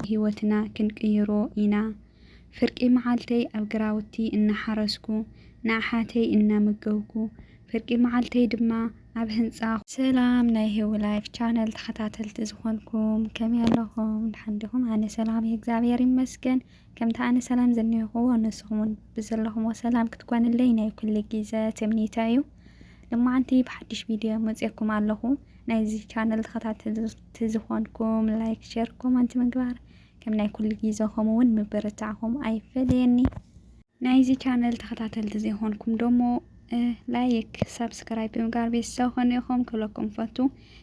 ህይወትና ክንቅይሮ ኢና። ፍርቂ መዓልተይ ኣብ ግራውቲ እናሓረስኩ፣ ንኣሓተይ እናመገብኩ፣ ፍርቂ መዓልተይ ድማ ኣብ ህንጻ። ሰላም ናይ ሂዊ ላይፍ ቻነል ተኸታተልቲ ዝኾንኩም ከመይ ኣለኹም ድሓን ዲኹም ኣነ ሰላም እየ እግዚኣብሔር ይመስገን። ከምቲ ኣነ ሰላም ዘኒሆክዎ ንስኹም ውን ብዘለኽሞ ሰላም ክትኮንለይ ናይ ኩሉ ጊዘ ትምኒተይ እዩ። ልማዓንቲ ብሓዱሽ ቪድዮ መጽኤኩም ኣለኹ። ናይዚ ቻነል ተኸታተልቲ ዝኾንኩም ላይክ ሸር ኮመንት ምግባር ከም ናይ ኩሉ ጊዘ ከምኡ ውን ምብርታዕኹም ኣይፈለየኒ። ናይዚ ቻነል ተኸታተልቲ ዘይኾንኩም ደሞ ላይክ ሳብስክራይብ ብምግባር ቤተሰብ ኮኑ ኢኹም ክብለኩም ፈቱ።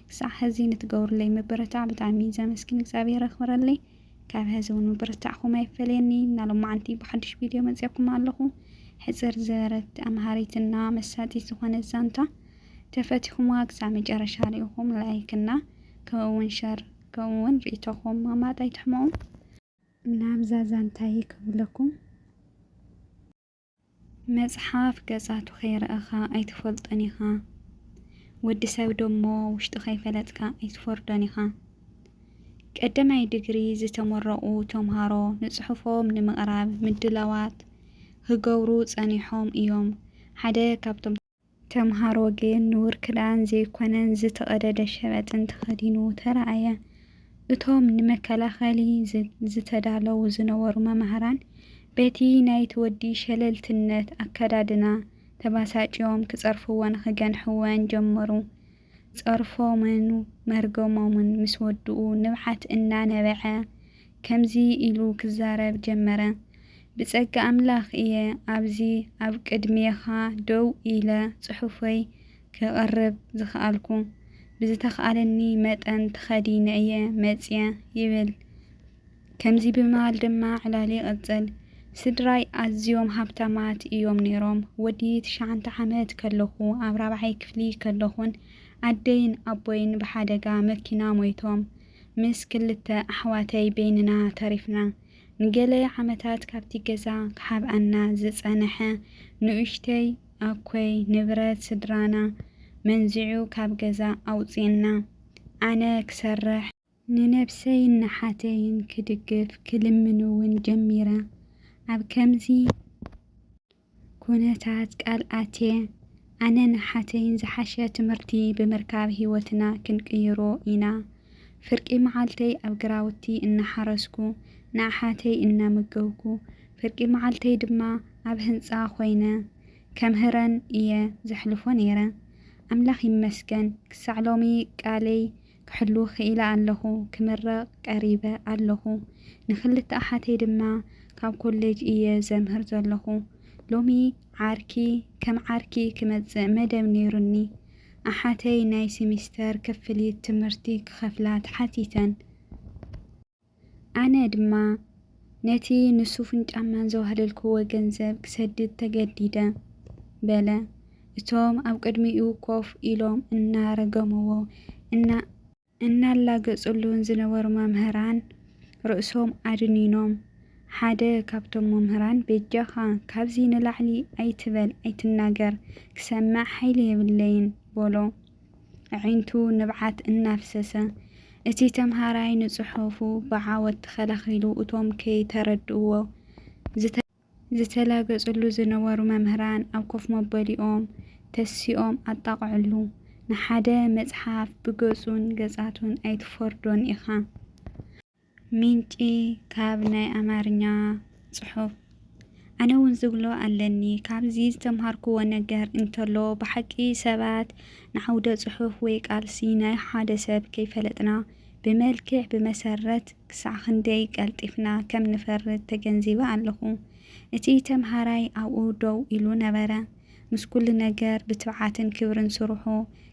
ክሳዕ ሀዚ ንትገብሩለይ ምብርታዕ ብጣዕሚ ዘመስግን እግዚኣብሔር የኽብረለይ። ካብ ሐዚ እውን ምብርታዕኹም ኣይፈለየኒ እና ሎማዓንቲ ብሓዱሽ ቪድዮ መፅኤኩም ኣለኹ ሕፅር ዝበረት ኣምሃሪት እና መሳጢት ዝኾነት ዛንታ ተፈቲኹምዋ ክሳብ መጨረሻ ሪኢኹም ላይክ እና ከምኡ እውን ሸር ከምኡ እውን ሪኢቶኹም ምቕማጥ ኣይትሕመቑ ናብዛ ዛንታይ ክብለኩም መጽሓፍ ገጻቱ ከይረኣኻ ኣይትፈልጦን ኢኻ፣ ወዲ ሰብ ደሞ ውሽጡ ከይፈለጥካ ኣይትፈርዶን ኢኻ። ቀደማይ ድግሪ ዝተመረቑ ተምሃሮ ንጽሑፎም ንምቕራብ ምድላዋት ኽገብሩ ጸኒሖም እዮም። ሓደ ካብቶም። ተምሃሮ ግን ንቡር ክዳን ዘይኮነን ዝተቐደደ ሸበጥን ተኸዲኑ ተራኣየ። እቶም ንመከላኸሊ ዝተዳለዉ ዝነበሩ መማህራን በቲ ናይቲ ወዲ ሸለልትነት ኣከዳድና ተባሳጭዮም ክጸርፍዎን ክገንሕዎን ጀመሩ። ጸርፎምን መርገሞምን ምስ ወድኡ ንብዓት እናነበዐ ከምዚ ኢሉ ክዛረብ ጀመረ፣ ብጸጋ ኣምላኽ እየ ኣብዚ ኣብ ቅድሜኻ ደው ኢለ ጽሑፈይ ከቕርብ ዝኸኣልኩ። ብዝተኻእለኒ መጠን ተኸዲነ እየ መጺኤ ይብል። ከምዚ ብምባል ድማ ዕላል ይቕጽል፣ ስድራይ ኣዝዮም ሃብታማት እዮም ነይሮም። ወዲ ትሽዓንተ ዓመት ከለኹ፣ ኣብ ራብዓይ ክፍሊ ከለኹን ኣደይን ኣቦይን ብሓደጋ መኪና ሞይቶም፣ ምስ ክልተ ኣሕዋተይ በይንና ተሪፍና። ንገለ ዓመታት ካብቲ ገዛ ክሓብኣና ዝጸንሐ ንኡሽተይ ኣኮይ ንብረት ስድራና መንዚዑ ካብ ገዛ ኣውጽኡና። ኣነ ክሰርሕ። ንነብሰይን ንሓተይን ክድግፍ ክልምን'ውን ጀሚረ። ኣብ ከምዚ ኩነታት ቃል ኣትየ፣ ኣነን ሓተይን ዝሓሸ ትምህርቲ ብምርካብ ህይወትና ክንቅይሮ ኢና። ፍርቂ መዓልተይ ኣብ ግራውቲ እናሓረስኩ ንኣሓተይ እናመገብኩ፣ ፍርቂ መዓልተይ ድማ ኣብ ህንጻ ኮይነ ከምህረን እየ ዘሕልፎ ነይረ። ኣምላኽ ይመስገን ክሳዕ ሎሚ ቃለይ ክሕሉ ክኢለ ኣለኹ፣ ክምረቕ ቀሪበ ኣለኹ። ንኽልተ ኣሓተይ ድማ ካብ ኮሌጅ እየ ዘምህር ዘለኹ። ሎሚ ዓርኪ ከም ዓርኪ ክመጽእ መደብ ነይሩኒ። ኣሓተይ ናይ ሲሚስተር ክፍሊት ትምህርቲ ክኸፍላ ተሓቲተን። ኣነ ድማ ነቲ ንሱፍን ጫማን ዘዋህለልክዎ ገንዘብ ክሰድድ ተገዲደ። በለ እቶም ኣብ ቅድሚኡ ኮፍ ኢሎም እናረገምዎ እና እናላገጽሉን ዝነበሩ መምህራን ርእሶም ኣድኒኖም። ሓደ ካብቶም መምህራን በጃኻ ካብዚ ንላዕሊ ኣይትበል ኣይትናገር ክሰምዕ ሓይሊ የብለይን በሎ። ኣዒንቱ ንብዓት እናፍሰሰ፣ እቲ ተምሃራይ ንጽሑፉ ብዓወት ተኸላኺሉ፣ እቶም ከይተረድእዎ ዝተላገጽሉ ዝነበሩ መምህራን ኣብ ኮፍ መበሊኦም ተሲኦም ኣጣቕዕሉ። ንሓደ መጽሓፍ ብገጹን ገጻቱን ኣይትፈርዶን ኢኻ። ምንጪ ካብ ናይ ኣማርኛ ጽሑፍ ኣነ እውን ዝብሎ ኣለኒ ካብዚ ዝተምሃርክዎ ነገር እንተሎ ብሓቂ ሰባት ንዓውደ ጽሑፍ ወይ ቃልሲ ናይ ሓደ ሰብ ከይፈለጥና ብመልክዕ ብመሰረት ክሳዕ ክንደይ ቀልጢፍና ከም ንፈርድ ተገንዚበ ኣለኹ። እቲ ተምሃራይ ኣብኡ ደው ኢሉ ነበረ። ምስ ኩሉ ነገር ብትብዓትን ክብርን ስርሑ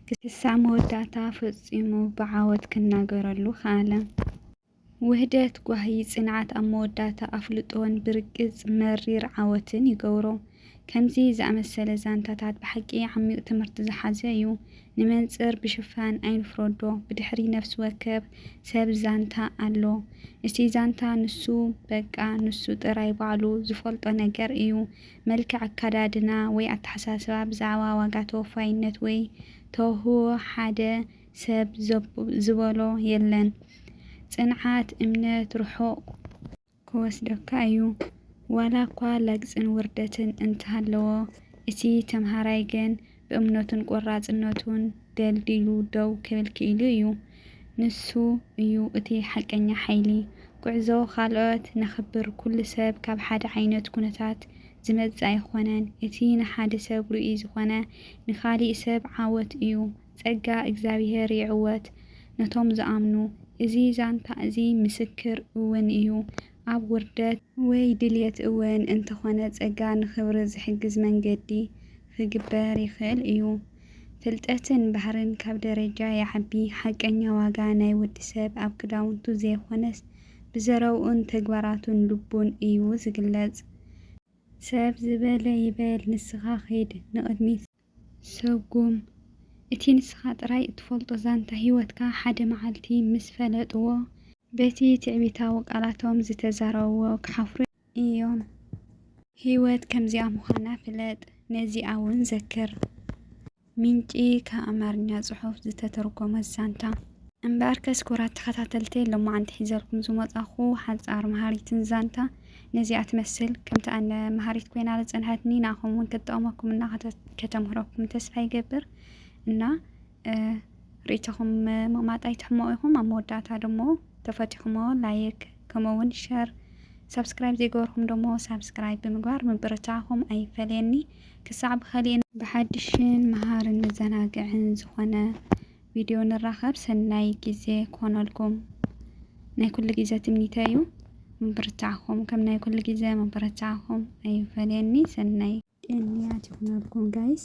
ክሳብ መወዳእታ ፈጺሙ ብዓወት ክናገረሉ ከኣለ። ውህደት ጓሂ ጽንዓት ኣብ መወዳእታ ኣፍልጦን ብርግጽ መሪር ዓወትን ይገብሮ። ከምዚ ዝኣመሰለ ዛንታታት ብሓቂ ዓሚቕ ትምህርቲ ዝሓዘ እዩ። ንመንጽር ብሽፋን ኣይንፍረዶ፣ ብድሕሪ ነፍሲ ወከፍ ሰብ ዛንታ ኣሎ። እቲ ዛንታ ንሱ በቃ ንሱ ጥራይ ባዕሉ ዝፈልጦ ነገር እዩ። መልክዕ ኣከዳድና ወይ ኣተሓሳስባ ብዛዕባ ዋጋ ተወፋይነት ወይ ተውህቦ ሓደ ሰብ ዘብ ዝበሎ የለን። ጽንዓት፣ እምነት፣ ርሑቕ። ክወስደካ እዩ። ዋላኳ ለግጽን ውርደትን እንተሃለዎ እቲ ተምሃራይ ግን ብእምነቱን ቈራጽነቱን ደልዲሉ ደው ክብል ክኢሉ እዩ። ንሱ እዩ እቲ ሓቀኛ ሓይሊ። ጕዕዞ ኻልኦት ነኽብር። ኵሉ ሰብ ካብ ሓደ ዓይነት ኵነታት ዝመጽእ ኣይኰነን። እቲ ንሓደ ሰብ ርኡይ ዝዀነ፣ ንኻሊእ ሰብ ዓወት እዩ። ጸጋ እግዚኣብሄር ይዕወት ነቶም ዝኣምኑ። እዚ ዛንታ እዚ ምስክር እውን እዩ። ኣብ ውርደት ወይ ድልየት እወን እንተኾነ ጸጋ ንኽብሪ ዝሕግዝ መንገዲ ኽግበር ይኽእል እዩ። ፍልጠትን ባህርን ካብ ደረጃ ይዓቢ። ሓቀኛ ዋጋ ናይ ወዲ ሰብ ኣብ ክዳውንቱ ዘይኾነስ ብዘረብኡን ተግባራቱን ልቡን እዩ ዝግለጽ። ሰብ ዝበለ ይበል ንስኻ ኺድ ንቕድሚት። ሰጉም፣ እቲ ንስኻ ጥራይ እትፈልጦ ዛንታ ህይወትካ ሓደ መዓልቲ ምስ ፈለጥዎ፣ በቲ ትዕቢታዊ ቃላቶም ዝተዛረብዎ ክሓፍሩ ኢዮም። ህይወት ከምዚኣ ምዃና ፍለጥ፣ ነዚኣ እውን ዘክር። ምንጪ፣ ካብ ኣማርኛ ጽሑፍ ዝተተርጎመ ዛንታ። እምበኣርከስ ክቡራት ተኸታተልተይ፣ ሎማዓንቲ ሒዘልኩም ዝመጻኹ ሓጻር መሃሪትን ዛንታ፣ ነዚኣ ትመስል ከምቲ ኣነ መሃሪት ኮይና ዝጸንሐትኒ ንኣኹም እውን ክትጠቕመኩም እና ከተምህረኩም ተስፋ ይገብር እና ርእይቶኹም ምቕማጥ ኣይትሕመቑ ኢኹም ኣብ መወዳእታ ደሞ ተፈቲኹሞ ላይክ ከምኡውን ሸር ሳብስክራይብ ዘይገበርኩም ደሞ ሳብስክራይብ ብምግባር ምብርታዕኹም ኣይፈለየኒ ክሳዕ ብኸሊእን ብሓድሽን መሃርን መዘናግዕን ዝኾነ ቪድዮ ንራኸብ ሰናይ ግዜ ክኾነልኩም ናይ ኩሉ ግዜ ትምኒተይ እዩ ምብርታዕኹም ከም ናይ ኩሉ ግዜ ምብርታዕኹም ኣይፈለየኒ ሰናይ ቅንያት ይኹነልኩም ጋይስ